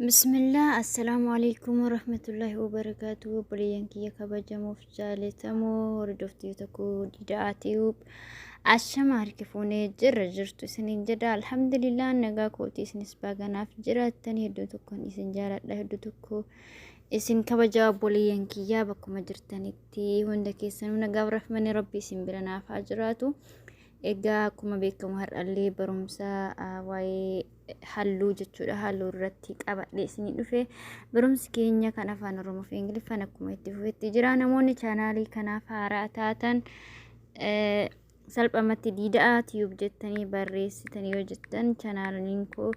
Bismillah assalaamu alaikum warahmatullahi wabarakatuh obboleeyyan kiyya kabajamuuf jaalatamoo hordoftii tokko dida'aa ti'uub ashama harkifuunee jirra jirtu isiniin jedha alhamdulillah nagaa kootii isinis baaganaaf jiraattan hedduu tokkoon isin jaaladha hedduu tokko isin kabajaa obboleeyyan kiyyaa bakkuma jirtanitti hunda keessanuu nagaaf rahmani rabbi isin bira naaf haa jiraatu egaa akkuma beekamu har'allee barumsa waa'ee halluu jechuudha halluu irratti qabadhe isinii dhufe barumsi keenya kan afaan oromoo fi ingiliffaan akkuma itti fufetti jira namoonni chaanaalii kanaaf haaraa taatan salphamatti diida'aa tiyuub jettanii barreessitanii yoo jettan chaanaaliin koo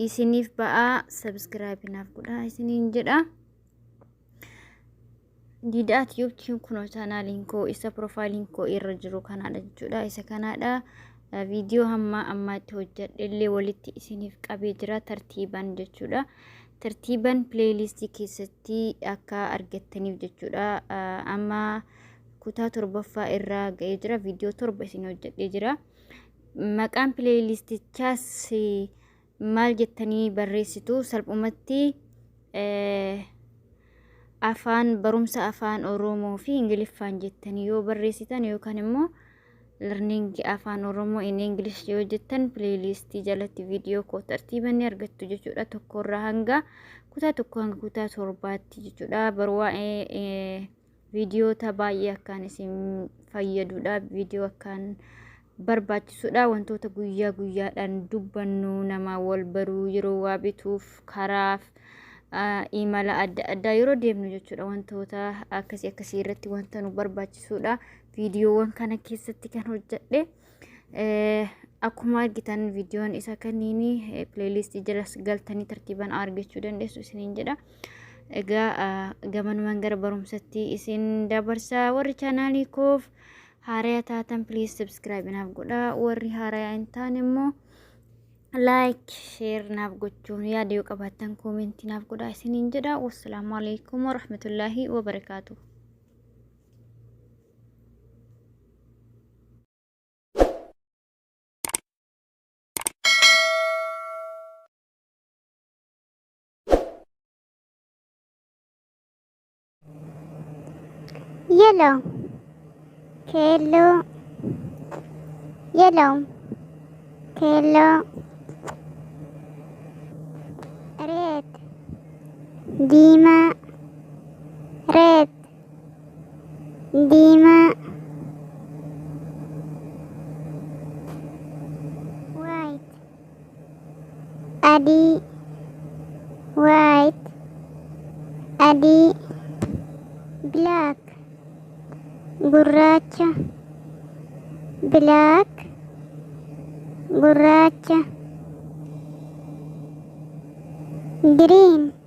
isiniif ba'aa sabiskiraayibinaaf godhaa isiniin jedha. Didaa Tube Tube kunoo chaanaaliin koo isa piroofaayiliin koo irra jiru kanaadha jechuudha. Isa kanaadha viidiyoo hamma ammaatti hojjedhe illee walitti isiniif qabee jira tartiiban jechuudha. Tartiiban pileeyiliistii keessatti akka argattaniif jechuudha. Amma kutaa torbaffaa irraa ga'ee jira. Viidiyoo torba isin hojjedhee jira. Maqaan pileeyiliistichaas maal jettanii barreessitu salphumatti afaan barumsa afaan oromoo fi ingiliffaan jettanii yoo barreessitan yookaan immoo learning afaan oromoo in english yoo jettan pileeylistii jalatti viidiyoo koo tartiibanni argattu jechuudha tokkorraa hanga kutaa tokko hanga kutaa torbaatti jechuudha barwaa'ee viidiyoota baay'ee akkaan isin fayyadudha. Viidiyoo akkaan barbaachisudha. Wantoota guyyaa guyyaadhaan dubbannu nama wal baruu yeroo waa bituuf karaaf imala adda addaa yeroo deemnu jechuudha. Wantoota akkasii akkasii irratti wanta nu barbaachisudha. Viidiyoowwan kana keessatti kan hojjedhe. Akkuma argitan viidiyoon isa kanniini pileeliistii jala galtanii tartiibaan argachuu dandeessu isiniin jedha. Egaa gamanumaan gara barumsatti isin dabarsa warri chaanaalii koof haaraya taatan piliis sabskiraayib naaf godha warri haaraya hin taane immoo laayik sheer naaf gochuun yaada yoo qabaattan koomentii naaf godha isiniin jedha. Wassalaamu alaikum warahmatullaahi wabarakaatuh. Yellow. Yellow. Yellow. Yellow. Red. Dima. Red. diimaa white adii white adii black gurraacha black gurraacha green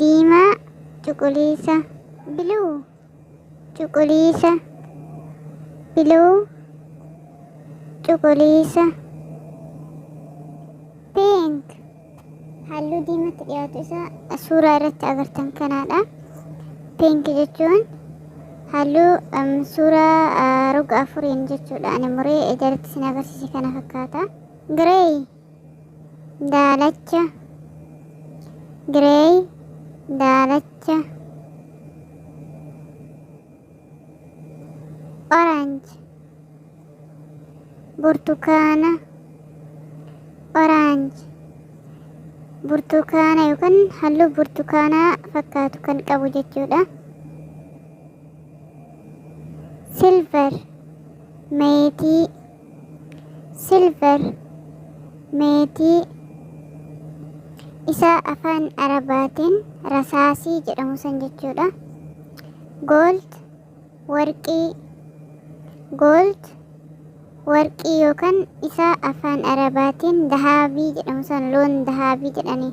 diimaa cuquliisa blue cuquliisa blue cuquliisa pink halluu diimatti dhiyaatu isa suuraa irratti agartan kanaadha pink jechuun halluu um, suuraa uh, roga afuriin jechuudha ani muree jalatti sin agarsiise kana fakkaata grey daalacha grey daalacha orange burtukaana orange burtukaana yookaan halluu burtukaanaa fakkaatu kan qabu jechuudha silver meetii silver meetii isa afaan arabaatiin rasaasii jedhamu san jechuudha gold warqii gold warqii yookaan isa afaan arabaatiin dahaabii jedhamu san loon dahaabii jedhanii